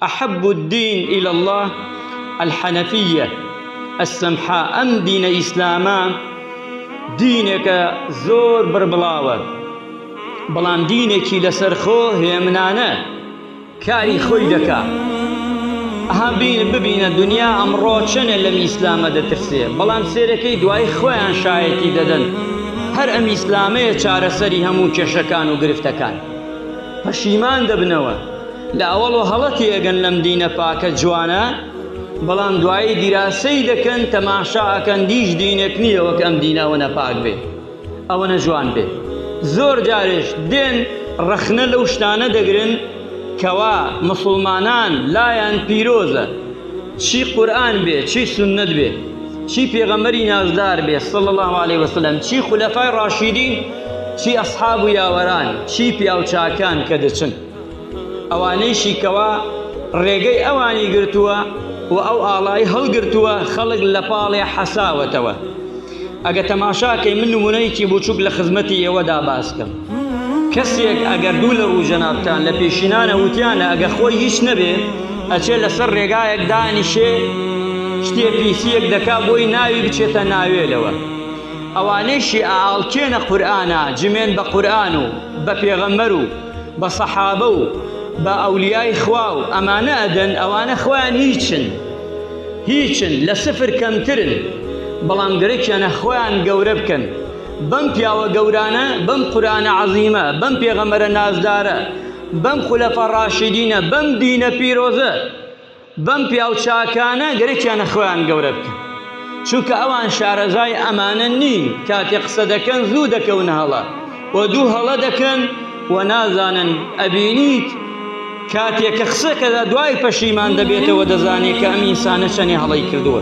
احب الدین الی اللە الحنفیە السمحاء ئەم دینە ئیسلامە دینێکە زۆر بڕبڵاوە بەڵام دینێکی لەسەرخۆ هێمنانە کاری خۆی دەکا ئەها بین ببینە دنیا ئەمڕۆ چەنێ لەم ئیسلامە دەترسێ بەڵام سێرەکەی دوای خۆیان شایەتی دەدەن هەر ئەم ئیسلامەیە چارەسەری هەموو کێشەکان و گرفتەکان پەشیمان دەبنەوە لە ئەوەڵۆ هەڵە تێئەگەن لەم دینە پاکە جوانە بەڵام دوایی دیراسەی دەکەن تەماشا ئەکەن دیش دینێک نییە وەک ئەم دینە ئەوە نەپاک بێ ئەوە نەجوان بێ زۆر جارێش دێن ڕەخنە لەو شتانە دەگرن کەوا مسلمانان لایەن پیرۆزە چی قورآن بێ چی سنت بێ چی پێغەمەری نازدار بێ صل الله عليه وسلم چی خولەفای ڕاشیدین چی ئەسحاب و یاوەران چی پیاوچاکان کە دەچن ئەوانەیشی کەوا ڕێگەی ئەوانی گرتووە و ئەو ئاڵای هەڵگرتووە خەڵک لە پاڵێ حەساوەتەوە ئەگە تەماشاکەی من نمونەیەکی بچووک لە خزمەتی ئێوەدا باسکەم کەسێک ئەگەر دوو لە ڕوو جەنابتان لە پێشینانە وتیانە ئەگە خۆی هیچ نەبێ ئەچێ لەسەر ڕێگایەک دانیشێ شتێ پیسیەک دەکا بۆی ناوی بچێتە ناوێلەوە ئەوانەیشی ئاڵکێنە قورآە جمێن بە قورآن و بە پێغەمەر و بە سەحابە و بە ئەولیای خوا و ئەمانە ئەدەن ئەوانە خۆیان هیچن هیچن لە سفر کەمترن بەڵام گرەکیانە خۆیان گەورە بکەن بەم پیاوە گەورانە بەم قورآە عەزیمە بەم پێغەمەرە نازدارە بەم خولەفە ڕاشیدینە بەم دینە پیرۆزە بەم پیاو چاکانە گەرەکیانە خۆیان گەورە بکەن چونکە ئەوان شارەزای ئەمانە نین کاتێ قسە دەکەن زوو دەکەون هەڵە و دوو هەڵە دەکەن و نازانن ئەبینیت کاتێک کە قسەکەدا دوای پەشیمان دەبێتەوە دەزانێت کە ئەم ئینسانە چەنێ هەڵەی کردووە